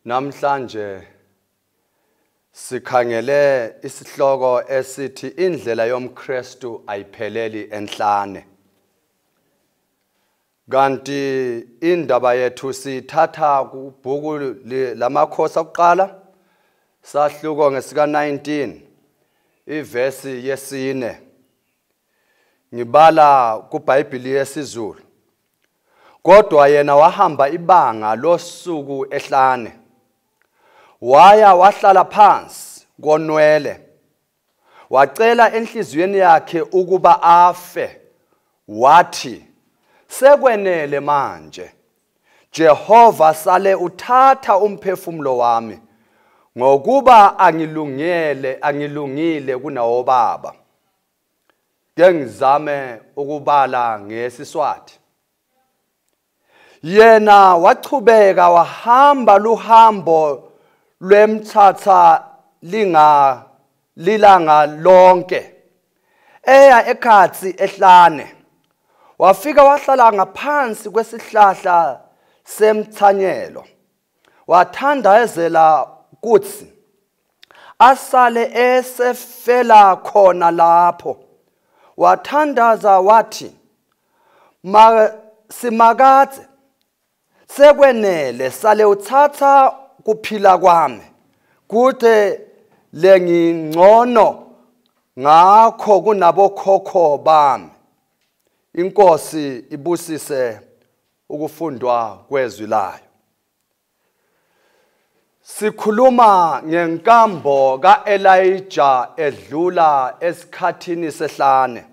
Namhlanje sikhangele isihloko esithi indlela yomKristu ayipheleli enhlane. Kanti indaba yethu sithatha kubhuku lamakhosi okuqala sahluko ngesika 19 ivesi yesine. ngibala kubhayibhili yesizulu kodwa yena wahamba ibanga losuku ehlane waya wahlala phansi konwele wacela enhliziyweni yakhe ukuba afe wathi sekwenele manje Jehova sale uthatha umphefumulo wami ngokuba angilungele angilungile kunawo baba ke ngizame ukubala ngesiswati yena wachubeka wahamba luhambo lwemthatha linga lilanga lonke eya ekhathi ehlane wafika wahlala ngaphansi kwesihlahla semthanyelo wathandayezela kuthi asale esefela khona lapho wathandaza wathi ma simakadze sekwenele sale uthatha kuphila kwami kude lengingcono ngakho kunabokhokho bami inkosi ibusise ukufundwa kwezwi layo sikhuluma ngenkambo kaElijah edlula esikhathini sehlane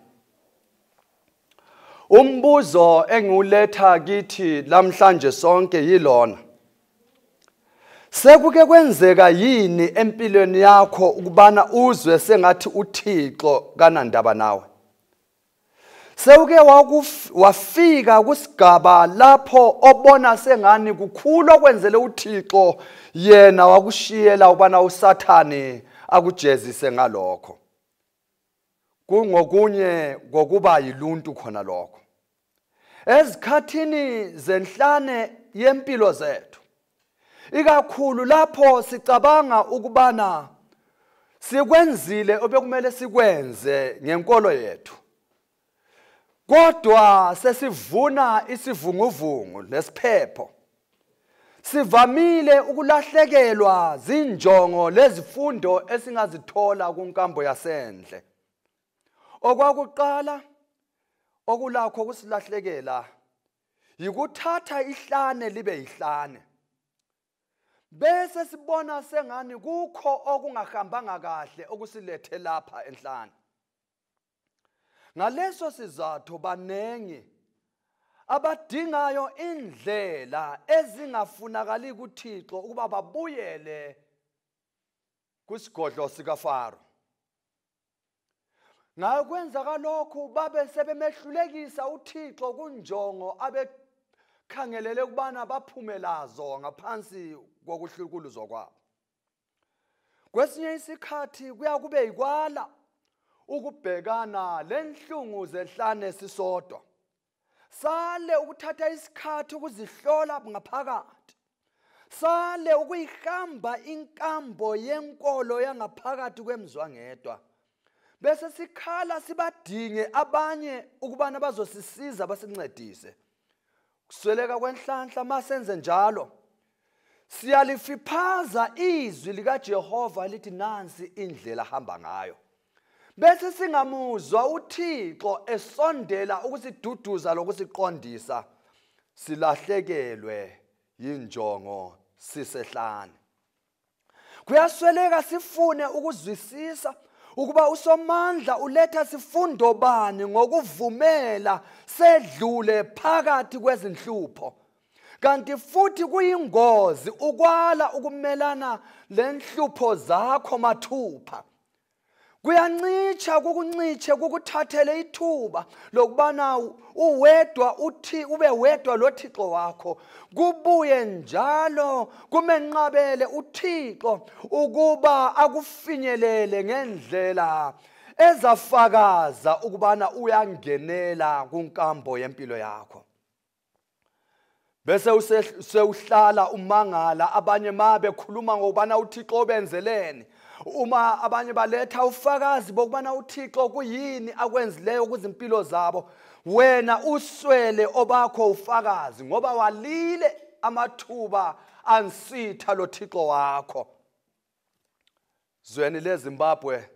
umbuzo engiwuletha kithi lamhlanje sonke yilona sekuke kwenzeka yini empilweni yakho ukubana uzwe sengathi uThixo kanandaba nawe sewuke wafika kusigaba lapho obona sengani kukhulu okwenzele uthixo yena wakushiyela ubana usathane akujezise ngalokho kungokunye kokuba yiluntu khona lokho ezikhathini zenhlane yempilo zethu ikakhulu lapho sicabanga ukubana sikwenzile obekumele sikwenze ngenkolo yethu kodwa sesivuna isivunguvungu lesiphepho sivamile ukulahlekelwa zinjongo lezifundo esingazithola kunkambo yasendle okwakuqala okulakho kusilahlekela yikuthatha ihlane libe yihlane bese sibona sengani kukho okungahambanga kahle okusilethe lapha enhlane ngaleso sizathu baningi abadingayo indlela ezingafunakali kuThixo ukuba babuyele kwisigodlo sikaFaro ngayo kwenzaka lokhu babe sebemehlulekisa uthixo kunjongo abekhangelele ukubana baphume lazo ngaphansi kokuhlukuluzwa kwabo kwesinye isikhathi kuyakube yikwala ukubhekana lenhlungu zehlane sisodwa sale ukuthatha isikhathi ukuzihlola ngaphakathi sale ukuyihamba inkambo yenkolo yangaphakathi kwemzwangedwa bese sikhala sibadinge abanye ukubana bazosisiza basincedise kusweleka kwenhlanhla masenze njalo siyalifiphaza izwi likaJehova lithi nansi indlela hamba ngayo bese singamuzwa uthixo esondela ukusiduduza lokusiqondisa silahlekelwe yinjongo sisehlane kuyasweleka sifune ukuzwisisa ukuba usomandla uletha sifundo bani ngokuvumela sedlule phakathi kwezinhlupho kanti futhi kuyingozi ukwala ukumelana lenhlupho zakho mathupha kuyancitsha kukuncitshe kukuthathele ithuba lokubana uwedwa uthi ube wedwa lothixo wakho kubuye njalo kumenqabele uthixo ukuba akufinyelele ngendlela ezafakaza ukubana uyangenela kunkambo yempilo yakho bese usewuhlala umangala abanye ma bekhuluma ngokubana uthixo ubenzeleni uma abanye baletha ufakazi bokubana uthixo kuyini akwenzileyo kuzimpilo zabo wena uswele obakho ufakazi ngoba walile amathuba ansitha lo thixo wakho zweni lezimbabwe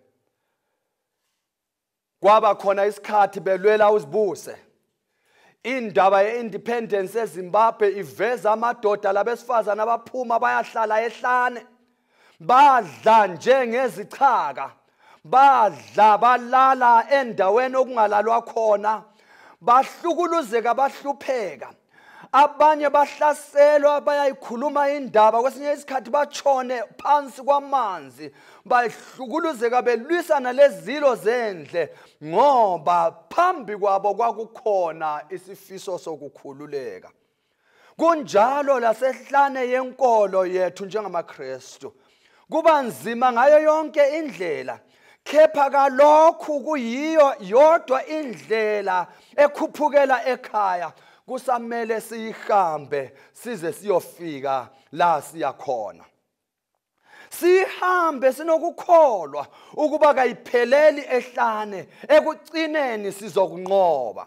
kwaba khona isikhathi belwela uzibuse indaba ye-independence ezimbabwe iveza amadoda labesifazane abaphuma bayahlala ehlane badla njengezichaka badla balala endaweni okungalalwa khona bahlukuluzeka bahlupheka abanye bahlaselwa bayayikhuluma indaba kwesinye isikhathi batshone phansi kwamanzi bahlukuluzeka belwisana lezilo zendle ngoba phambi kwabo kwakukhona isifiso sokukhululeka kunjalo lasehlane yenkolo yethu njengamakristu kuba nzima ngayo yonke indlela kepha kalokhu kuyiyo yodwa indlela ekhuphukela ekhaya kusamele siyihambe size siyofika la siyakhona sihambe sinokukholwa ukuba kayipheleli ehlane ekucineni sizokunqoba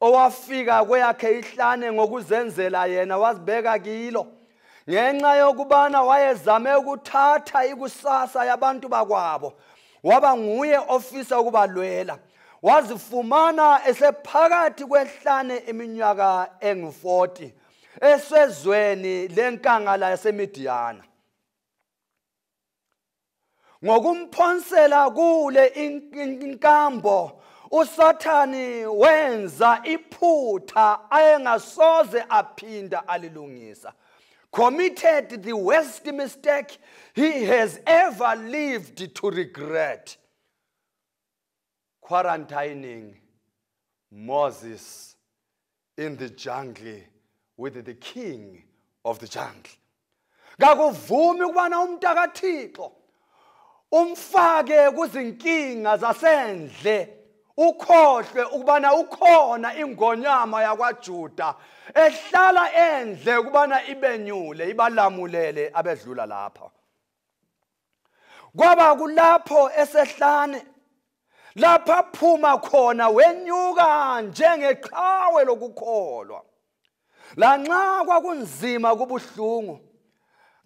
owafika kweyakhe ihlane ngokuzenzela yena wazibeka kilo ngenxa yokubana wayezame ukuthatha ikusasa yabantu bakwabo waba nguye ofisa ukubalwela wazifumana esephakathi kwehlane iminyaka engu-40 eswezweni lenkangala yasemidiyana ngokumphonsela kule inkambo usathani wenza iphutha ayengasoze aphinda alilungisa committed the worst mistake he has ever lived to regret quarantining Moses in the jungle with the king of the jungle kakuvumi ukubana umuntu akathixo umfake kuzinkinga zasendle ukhohlwe ukubana ukhona ingonyama yakwaJuda ehlala endle ukubana ibenyule ibalamulele abedlula lapha kwaba kulapho esehlane lapha phuma khona wenyuka njengeqhawe lokukholwa lanxa kwakunzima kubuhlungu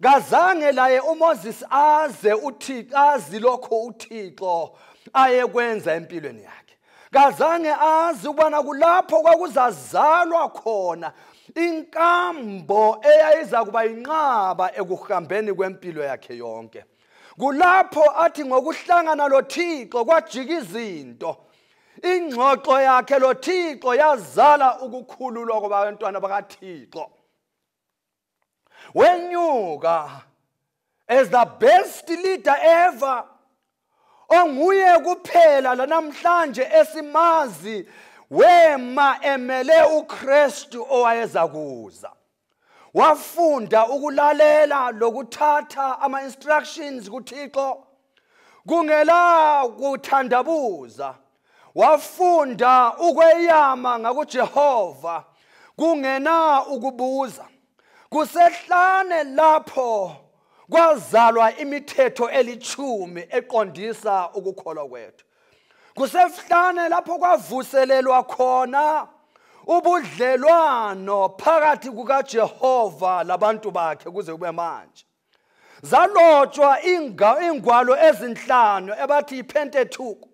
kazange laye uMoses aze uThixo azi lokho uThixo ayekwenza empilweni yakhe kazange azi ukubana kulapho kwakuzazalwa khona inkambo eyayiza kuba yinqaba ekuhambeni kwempilo yakhe yonke kulapho athi ngokuhlangana lothixo kwajika izinto ingxoxo yakhe lothixo yazala ukukhululwa kwabantwana bakathixo wenyuka as the best leader ever onguye kuphela lanamhlanje esimazi wema emele uKristu owayeza kuza wafunda ukulalela lokuthatha ama instructions kuThixo kungela kuthandabuza wafunda ukweyama ngakuJehova kungena ukubuza kusehlane lapho kwazalwa imithetho elithumi eqondisa ukukholwa kwethu kusehlane lapho kwavuselelwa khona ubudlelwano phakathi kukaJehova labantu bakhe kuze kube manje zalotshwa iingwalo ezinhlanu ebathi yipentetuku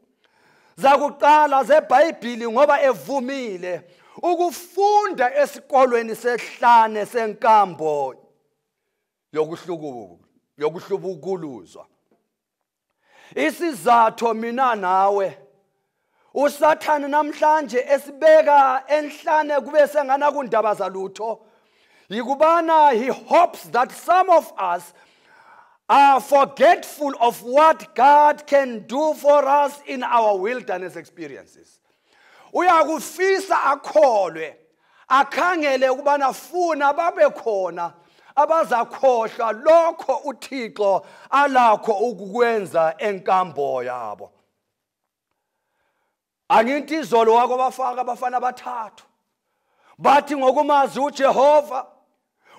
zakuqala zebhayibhili ngoba evumile ukufunda esikolweni sehlane senkambo yokuhlubukuluzwa isizatho mina nawe usathane namhlanje esibeka enhlane kube sengana kundaba zalutho yikubana he hopes that some of us are forgetful of what god can do for us in our wilderness experiences uyakufisa akholwe akhangele ukubana funa babe khona abazakhohlwa lokho uthixo alakho ukukwenza enkambo yabo angithi izolo wako bafaka abafana abathathu bathi ngokumazi uJehova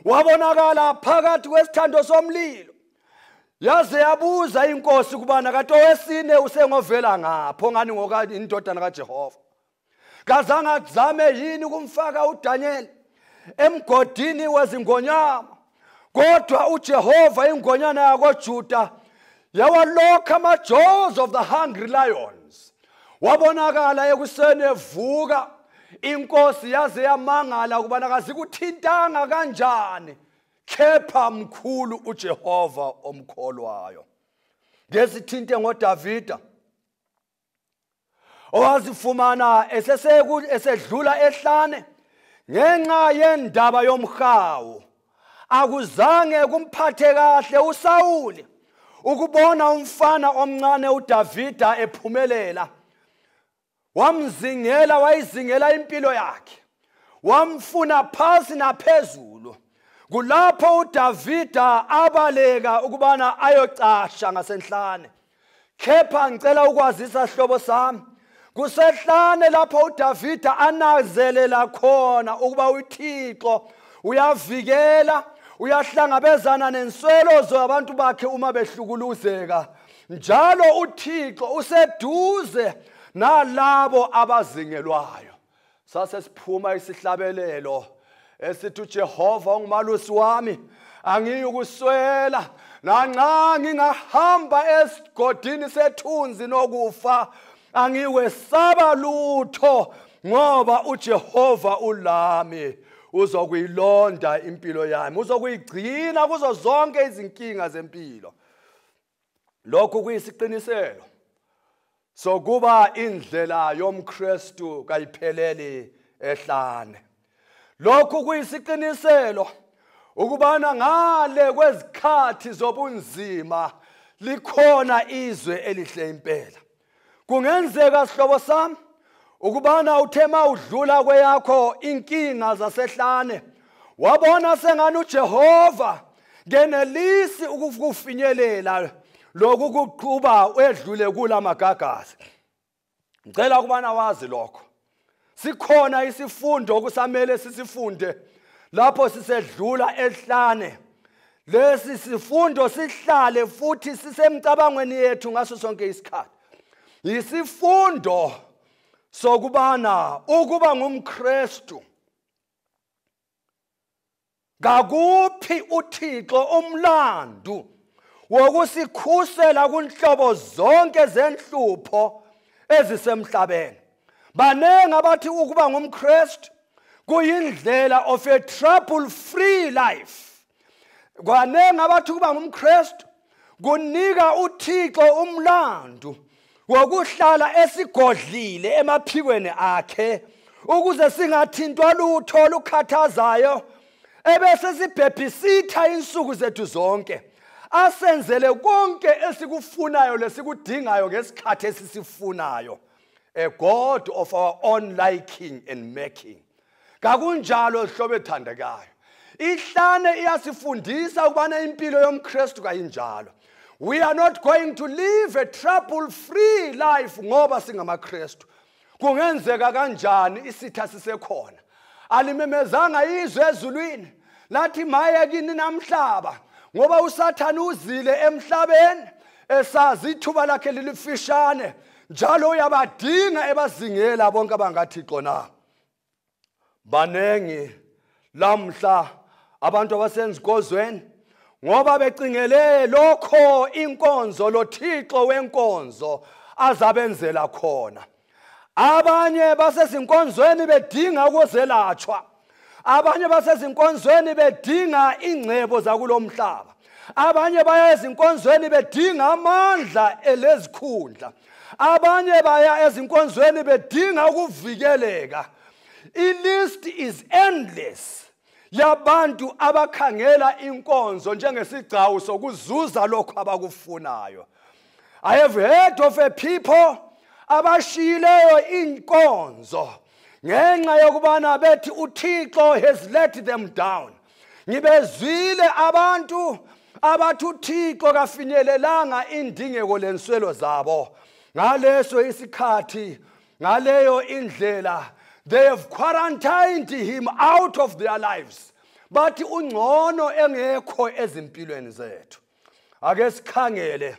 wabonakala phakathi kwesithando somlilo yaze yabuza inkosi kubana kanti owesine usengovela ngapho ngani ngoka indodana kaJehova kazange azame yini ukumfaka uDaniel emgodini wezingonyama kodwa ujehova ingonyana yakojuda yawalokha ama-jaws of the hungry lions wabonakala ekuseni evuka inkosi yaze yamangala ukubana kazikuthintanga kanjani khepha mkhulu ujehova omkholwayo ngesithinte ngodavida owazifumana esesedlula ehlane ngenxa yendaba yomhawu akuzange kumphathe kahle usawuli ukubona umfana omncane udavida ephumelela wamzingela wayizingela impilo yakhe wamfuna phansi naphezulu kulapho udavida abaleka ukubana ayocasha ngasenhlane kepha ngicela ukwazisa sihlobo sami kusehlane lapho udavida anazelela khona ukuba uthixo uyavikela uyahlangabezana nenswelo zabantu bakhe uma behlukuluzeka njalo uthixo useduze nalabo abazingelwayo sase siphuma isihlabelelo esithi uJehova ungumalusi wami angiyukuswela nanxa ngingahamba esigodini sethunzi nokufa angiwesaba lutho ngoba uJehova ulami uzokuyilonda impilo yami uzokuyigcina kuzo zonke izinkinga zempilo lokhu kuyisiqiniselo sokuba indlela yomKristu kayipheleli ehlane lokhu kuyisiqiniselo ukubana ngale kwezikhathi zobunzima likhona izwe elihle impela kungenzeka sihlobo sami ukubana uthe ma udlula kweyakho inkinga zasehlane wabona sengani ujehova ngenelisi ukufinyelela lokhu kuqhuba wedlule kula magagasi ngicela ukubana wazi lokho sikhona isifundo okusamele sisifunde lapho sisedlula ehlane lesi sifundo sihlale futhi sisemcabangweni yethu ngaso sonke isikhathi yisifundo sokubana ukuba ngumKristu ngakuphi uthixo umlandu wokusikhusela kunhlobo zonke zenhlupho ezisemhlabeni baningi abathi ukuba ngumkristu kuyindlela of a trouble free life kwaningi abathi ukuba ngumkristu kunika uthixo umlandu wokuhlala esigodlile emaphikweni akhe ukuze singathintwa lutho olukhathazayo ebese sibhebhisitha insuku zethu zonke asenzele konke esikufunayo lesikudingayo ngesikhathi esisifunayo a god of our own liking and making kakunjalo zihlobo ethandekayo ihlane iyasifundisa ukubana impilo yomkristu kayinjalo we are not going to live a trouble free life ngoba singamakristu kungenzeka kanjani isitha sisekhona alimemezanga izwe ezulwini lathi maye kini namhlaba ngoba usathane uzile emhlabeni esazi ithuba lakhe lilifishane njalo uyabadinga ebazingela bonke abangathixo na baningi lamhla abantu abasenza ikozweni ngoba becingele lokho inkonzo lothixo wenkonzo azabenzela khona abanye basezinkonzweni bedinga ukuzelatshwa abanye basezinkonzweni bedinga ingcebo zakulo mhlaba abanye baya ezinkonzweni bedinga amandla elezikhundla abanye baya ezinkonzweni bedinga ukuvikeleka ilist is endless yabantu abakhangela inkonzo njengesigcawu sokuzuza lokho abakufunayo i have heard of a people abashiyileyo inkonzo ngenxa yokubana bethi uthixo has let them down ngibezwile abantu abathi uthixo kafinyelelanga indingeko lenswelo zabo ngaleso isikhathi ngaleyo indlela they have quarantined him out of their lives bathi ungcono engekho ezimpilweni zethu ake sikhangele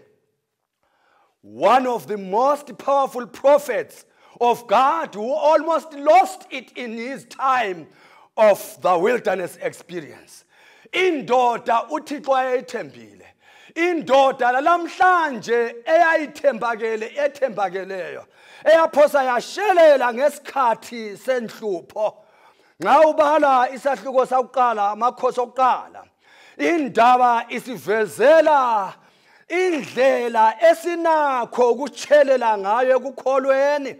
One of the most powerful prophets of God who almost lost it in his time of the wilderness experience. Indoda uThixo ayethembile. Indoda lalamhlanje eyayithembakele ethembakeleyo eyaphosa yashelela ngesikhathi senhlupho. Nxa ubala isahluko sakuqala amakhosi okuqala indaba isivezela indlela esinakho ukutshelela ngayo ekukholweni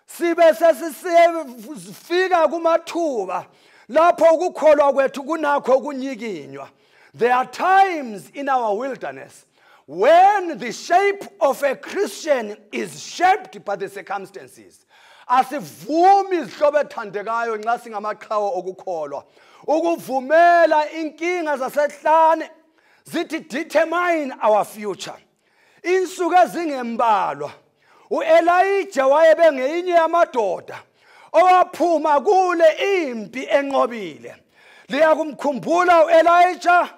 sibe sesisifika kumathuba lapho ukukholwa kwethu kunakho kunyikinywa there are times in our wilderness When the shape of a Christian is shaped by the circumstances, asivumi izihlobo ethandekayo nxa singamaqhawe okukholwa ukuvumela inkinga zasehlane zithi determine our future insuku ezingembalwa uElijah wayebe ngeyinye yamadoda owaphuma kule impi enqobile liyakumkhumbula uElijah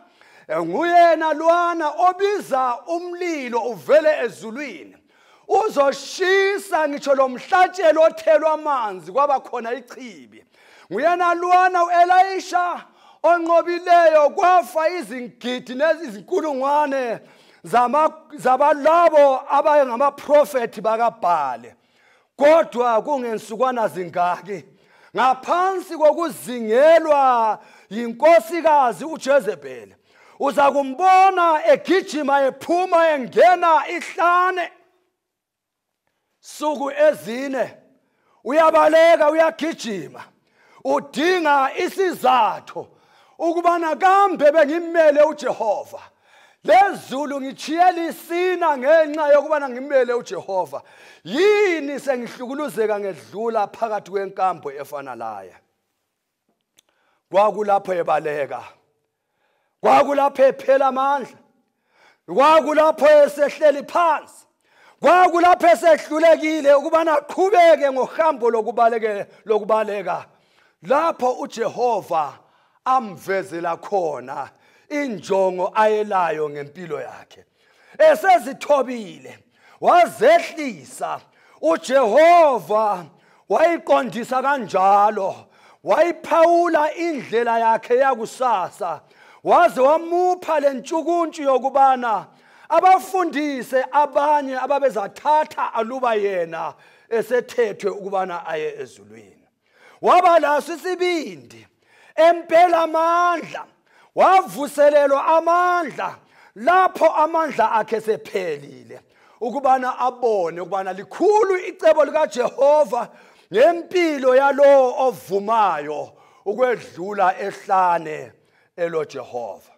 nguyena lwana obiza umlilo uvele ezulwini uzoshisa ngitsho lomhlatshelo othelwa amanzi kwaba khona ichibi nguyena lwana uelayisha onqobileyo kwafa izingidi nezinkulungwane zabalabo abangamaprofethi bakabhale kodwa kungensukwana zingaki ngaphansi kokuzingelwa yinkosikazi ujezebheli uza kumbona egijima ephuma engena ihlane suku ezine uyabaleka uyagijima udinga isizathu ukubana kambe bengimele uJehova lezulu ngitshiyela isina ngenxa yokubana ngimele uJehova yini sengihlukuluzeka ngedlula phakathi kwenkambo efana laye kwakulapho ebaleka kwakulapho ephela amandla kwakulapho esehleli phansi kwakulapho esehlulekile ukubana aqhubeke ngohambo lokubaleke lokubaleka lapho uJehova amvezela khona injongo ayelayo ngempilo yakhe esezithobile wazehlisa uJehova wayiqondisa kanjalo wayiphawula indlela yakhe yakusasa waze wamupha lentshukuntshu yokubana abafundise abanye ababezathatha aluba yena esethethwe ukubana aye ezulwini waba laso isibindi empela amandla wavuselelwa amandla lapho amandla akhe sephelile ukubana abone ukubana likhulu icebo likaJehova ngempilo yalowo ovumayo ukwedlula ehlane eloJehova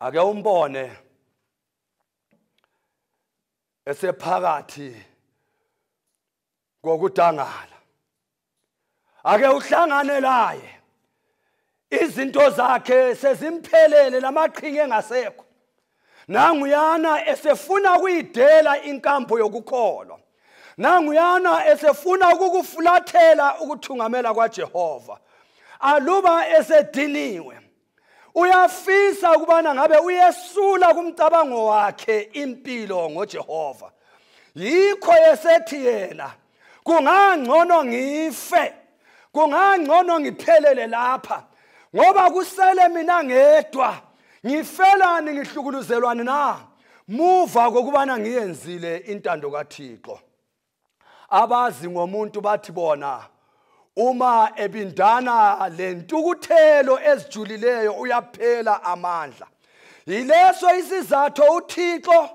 ake umbone esephakathi ngokudangala ake uhlangane laye izinto zakhe sezimphelele lamaqhinga engasekho nanguyana esefuna ukuyidela inkambo yokukholwa nanguyana esefuna ukukufulathela ukuthungamela kwaJehova aluba esediniwe uyafisa ukubana ngabe uyesula kumcabango wakhe impilo ngoJehova yikho esethi yena kungangcono ngife kungangcono ngiphelele lapha ngoba kusele mina ngedwa ngifelani ngihlukuluzelwani na muva kokubana ngiyenzile intando kaThixo abazi ngomuntu bathi bona uma ebindana lentukuthelo ezijulileyo uyaphela amandla yileso isizathu uThixo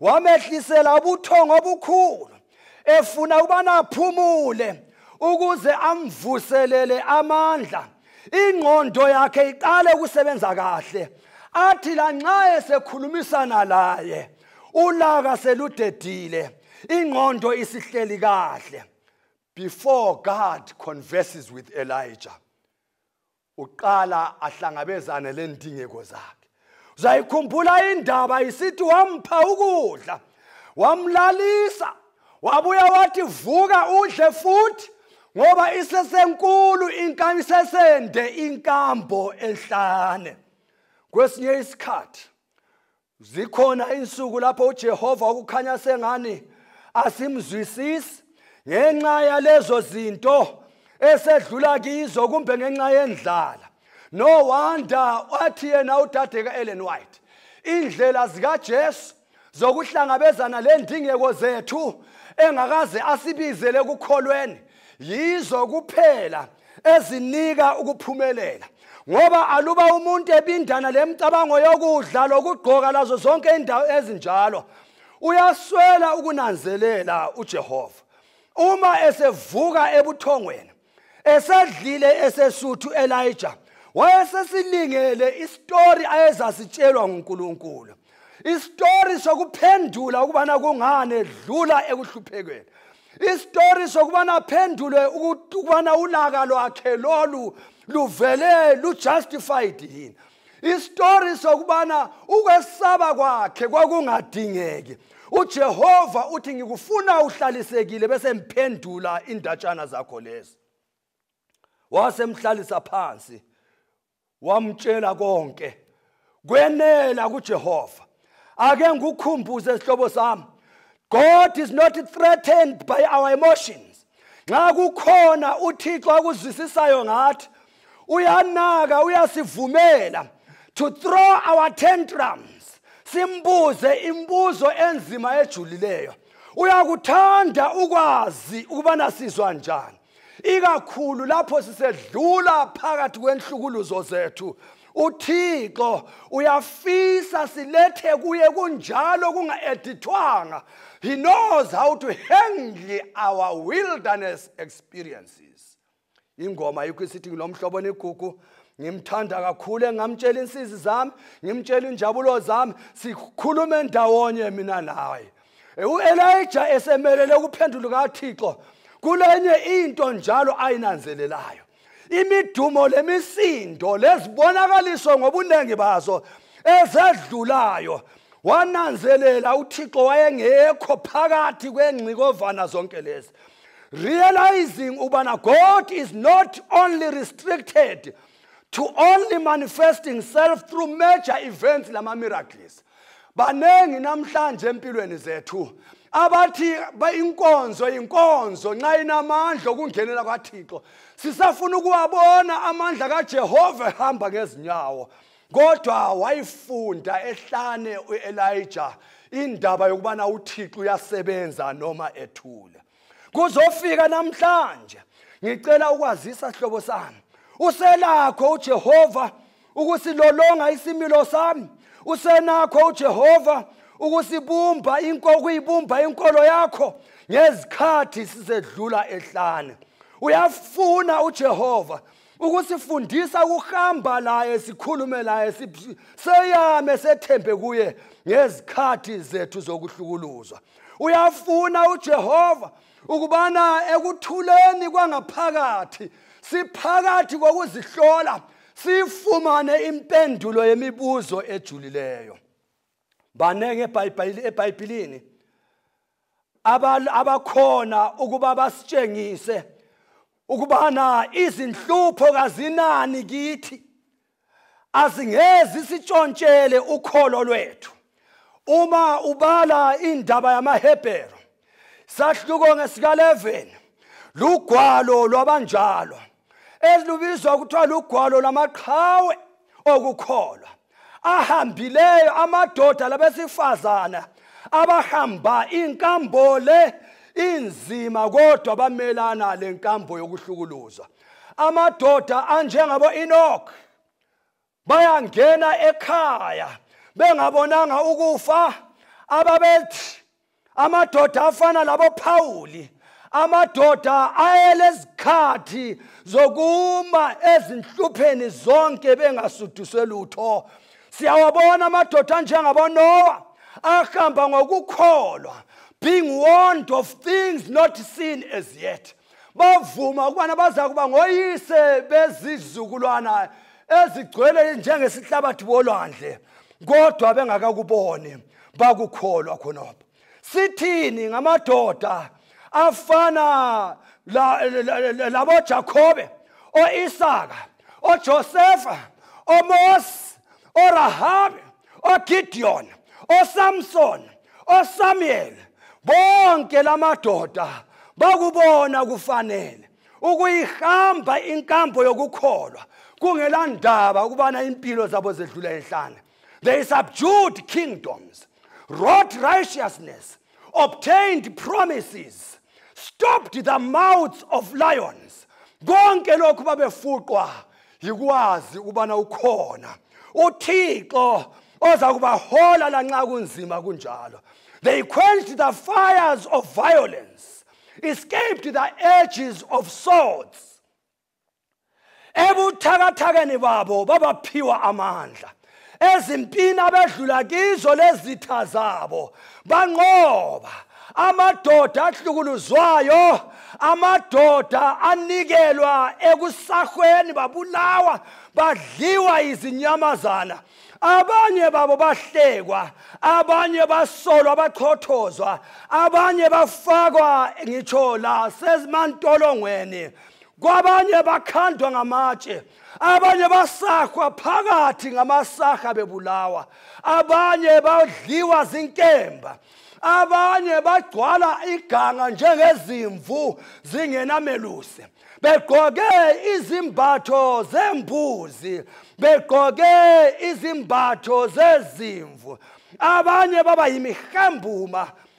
wamehlisela ubuthongo obukhulu efuna ubana aphumule ukuze amvuselele amandla ingqondo yakhe iqale ukusebenza kahle athi lanxa esekhulumisana laye ulaka seludedile ingqondo isihleli kahle before god converses with elijah uqala ahlangabezane lendingeko zakhe uzayikhumbula indaba isithi wampha ukudla wamlalisa wabuya wathi vuka udle futhi ngoba isesenkulu inkam isesende inkambo enhlane kwesinye isikhathi zikhona insuku lapho ujehova ukukhanya sengani asimzwisisi ngenxa yalezo zinto esedlula kizo kumbe ngenxa yendlala no wonder wathi yena udade ka-ellen white indlela zikajesu zokuhlangabezana lendingeko zethu engakaze asibizele ekukholweni yizo kuphela ezinika ukuphumelela ngoba aluba umuntu ebindana lemicabango yokudla lokugqoka lazo zonke indawo ezinjalo uyaswela ukunanzelela uJehova uma esevuka ebuthongweni esedlile esesuthu Elijah wayesesilingele isitori ayezasitshelwa nguNkulunkulu isitori sokuphendula ukubana kungani edlula ekuhluphekweni isitori sokubana aphendulwe ukubana ulaka lwakhe lolu luvele lujustified yini isitori sokubana ukwesaba kwakhe kwakungadingeki ujehova uthi ngikufuna uhlalisekile bese ngiphendula indatshana zakho lezi wasemhlalisa phansi wamtshela konke kwenela kuJehova ake ngikukhumbuze isihlobo sami God is not threatened by our emotions nxa kukhona uThixo akuzwisisayo ngathi uyanaka uyasivumela to throw our tantrums simbuze imbuzo enzima ejulileyo uyakuthanda ukwazi ukubana sizwa njani ikakhulu lapho sisedlula phakathi kwenhlukuluzo zethu uthixo uyafisa silethe kuye kunjalo kunga-edithwanga he knows how to handle our wilderness experiences ingoma yikho isithi ngilomhlobo nigugu ngimthanda kakhulu engamtshela insizi zami ngimtshela injabulo zami sikhulume ndawonye mina naye uElijah esemelele ukuphendula kaThixo kulenye into njalo ayinanzelelayo imidumo lemisindo lezibonakaliso ngobuningi bazo ezedlulayo wananzelela uThixo wayengekho phakathi kwengcikovana zonke lezi realizing ubana God is not only restricted to only manifesting self through major events lama miracles baningi namhlanje empilweni zethu abathi inkonzo inkonzo nxa inamandla okungenela kwathixo sisafuna ukuwabona amandla kajehova ehamba ngezinyawo kodwa wayifunda ehlane u-elija indaba yokubana uthixo uyasebenza noma ethule kuzofika namhlanje ngicela ukwazisa hlobo sami uselakho uJehova ukusilolonga isimilo sami usenakho uJehova ukusibumba inkokuyibumba inkolo yakho ngezikhathi sizedlula ehlane uyafuna uJehova ukusifundisa ukuhamba laye sikhulume laye seyame sethembe kuye ngezikhathi zethu zokuhlukuluzwa uyafuna uJehova ukubana ekuthuleni kwangaphakathi siphakathi kokuzihlola sifumane impendulo yemibuzo ejulileyo banenge ebhayibhilini abakhona ukuba basitshengise ukubana izinhlupho kazinani kithi azingezi sitshontshele ukholo lwethu uma ubala indaba yamaHebheru sahluko ngesika11 lugwalo lwabanjalo elubizwa kuthiwa lugwalo lamaqhawe okukholwa ahambileyo amadoda labesifazana abahamba inkambo le inzima kodwa bamelana le nkambo yokuhlukuluzwa amadoda anjengabo enoch bayangena ekhaya bengabonanga ukufa ababethi amadoda afana labophawuli amadoda ayelezikhathi zokuma ezinhlupheni zonke bengasuduswe lutho siyawabona amadoda anjengabonowa ahamba ngokukholwa being warned of things not seen as yet bavuma ukubana baza kuba ngoyise bezizukulwana ezigcwele njengesihlabathi bolwandle kodwa bengakakuboni bakukholwa khonapho sithini ngamadoda afana laboJakobe oIsaka oJosefa oMose orahabe oGideon oSamson oSamuel bonke lamadoda bakubona kufanele ukuyihamba inkambo yokukholwa kungelandaba ukubana impilo zabo zedlula enhlane they subdued kingdoms wrought righteousness obtained promises, stopped the mouths of lions. Konke lokhu babefuqwa yikwazi ukubana ukhona uThixo oza kubahola lanxa kunzima kunjalo. They quenched the fires of violence, escaped the edges of swords. ebuthakathakeni babo babaphiwa amandla ezimpini abedlula kizo lezitha zabo banqoba amadoda ahlukuluzwayo amadoda anikelwa ekusahweni babulawa badliwa izinyamazana abanye babo bahlekwa abanye basolwa bachothozwa abanye bafakwa ngitsho la sezimantolongweni kwabanye bakhandwa ngamatshe abanye basahwa phakathi ngamasaha bebulawa abanye badliwa zinkemba abanye bagcwala iganga njengezimvu zingenamelusi begqoke izimbatho zembuzi begqoke izimbatho zezimvu abanye baba yimihambuma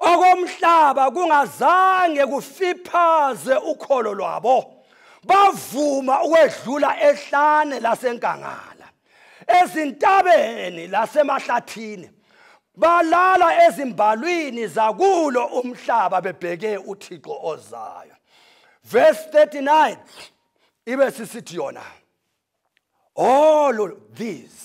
okomhlaba kungazange kufiphaze ukholo lwabo bavuma ukwedlula ehlane lasenkangala ezintabeni lasemahlathini balala ezimbalwini zakulo umhlaba bebheke uthixo ozayo verse 39 ibe sisithi yona all of these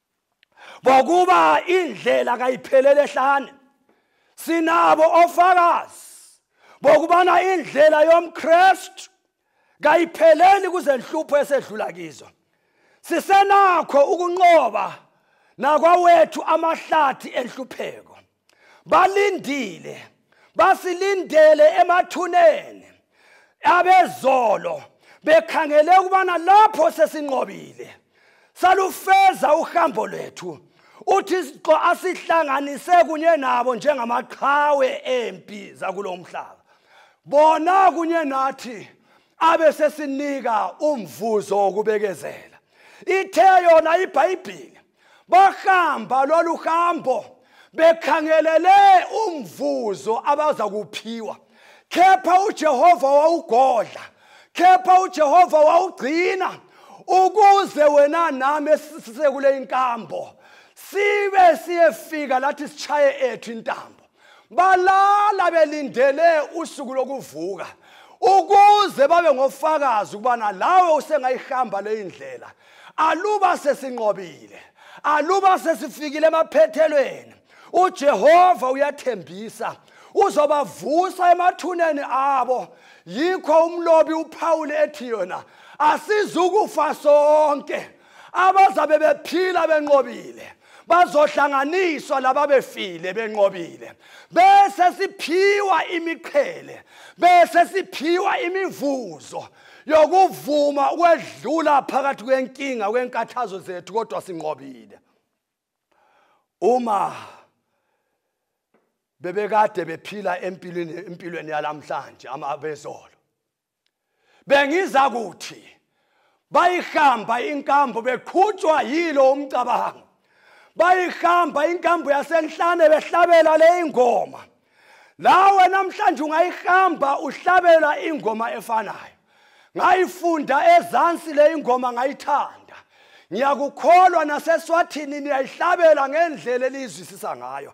ngokuba indlela kayiphelele ehlane sinabo ofakazi bokubana indlela yomkristu kayipheleli kuzenhlupho esedlula kizo sisenakho ukunqoba nakwawethu amahlathi enhlupheko balindile basilindele emathuneni abezolo bekhangele ukubana lapho sesinqobile salufeza uhambo lwethu uthi isixo asihlanganise kunye nabo njengamaqhawe empi zakulo mhlaba bona kunye nathi abe sesinika umvuzo wokubekezela ithe yona ibhayibhile bahamba lolu hambo bekhangelele umvuzo abaza kuphiwa kepha uJehova wawugodla kepha uJehova wawugcina ukuze wena nami esise kule inkambo sibe siyefika lathi sichaye ethu intambo balala belindele usuku lokuvuka ukuze babe ngofakazi ukubana lawe usengayihamba leyi ndlela aluba sesinqobile aluba sesifikile emaphethelweni ujehova uyathembisa uzobavusa emathuneni abo yikho umlobi uphawule ethi yona asizukufa sonke abazabe bephila benqobile bazohlanganiswa lababefile benqobile bese siphiwa imiqhele bese siphiwa imivuzo yokuvuma ukwedlula phakathi kwenkinga kwenkathazo zethu kodwa sinqobile uma bebekade bephila empilweni empilweni yalamhlanje amabezolo bengiza kuthi bayihamba inkambo beqhutshwa yilo umcabango bayihamba inkambo yasenhlane behlabela le ingoma lawe namhlanje ungayihamba uhlabela ingoma efanayo ngayifunda ezansi le ingoma ngayithanda ngiyakukholwa naseswathini niyayihlabela ngendlela eliyizwisisa ngayo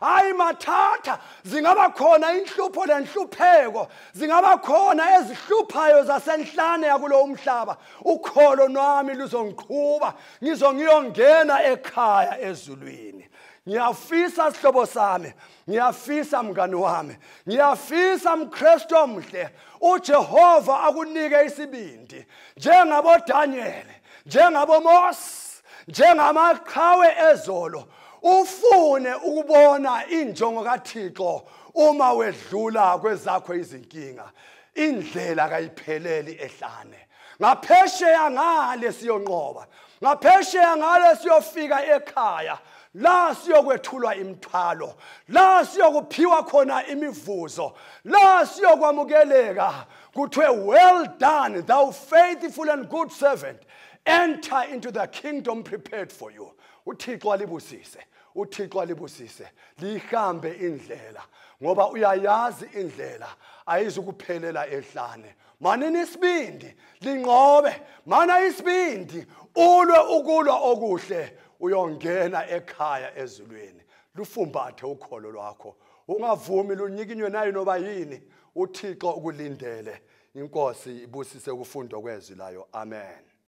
hayi mathatha zingaba khona inhlupho lenhlupheko zingaba khona ezihluphayo zasenhlane yakulo umhlaba ukholo lwami luzongiqhuba ngizo ngiyongena ekhaya ezulwini ngiyafisa sihlobo sami ngiyafisa mngani wami ngiyafisa mkristu omhle ujehova akunike isibindi njengabodanyele njengabomose njengamaqhawe ezolo ufune ukubona injongo kaThixo uma wedlula kwezakho izinkinga indlela kayipheleli ehlane ngaphesheya ngale siyonqoba ngaphesheya ngale siyofika ekhaya la siyokwethulwa imithwalo la siyokuphiwa khona imivuzo la siyokwamukeleka kuthiwe well done thou faithful and good servant enter into the kingdom prepared for you uthixo alibusise uthixo alibusise liyihambe indlela ngoba uyayazi indlela ayizukuphelela ehlane manini isibindi linqobe mana isibindi ulwe ukulwa okuhle uyongena ekhaya ezulwini lufumbathe ukholo lwakho ungavumi lunyikinywe nayo noba yini uthixo ukulindele inkosi ibusise ukufundwa kwezwi layo amen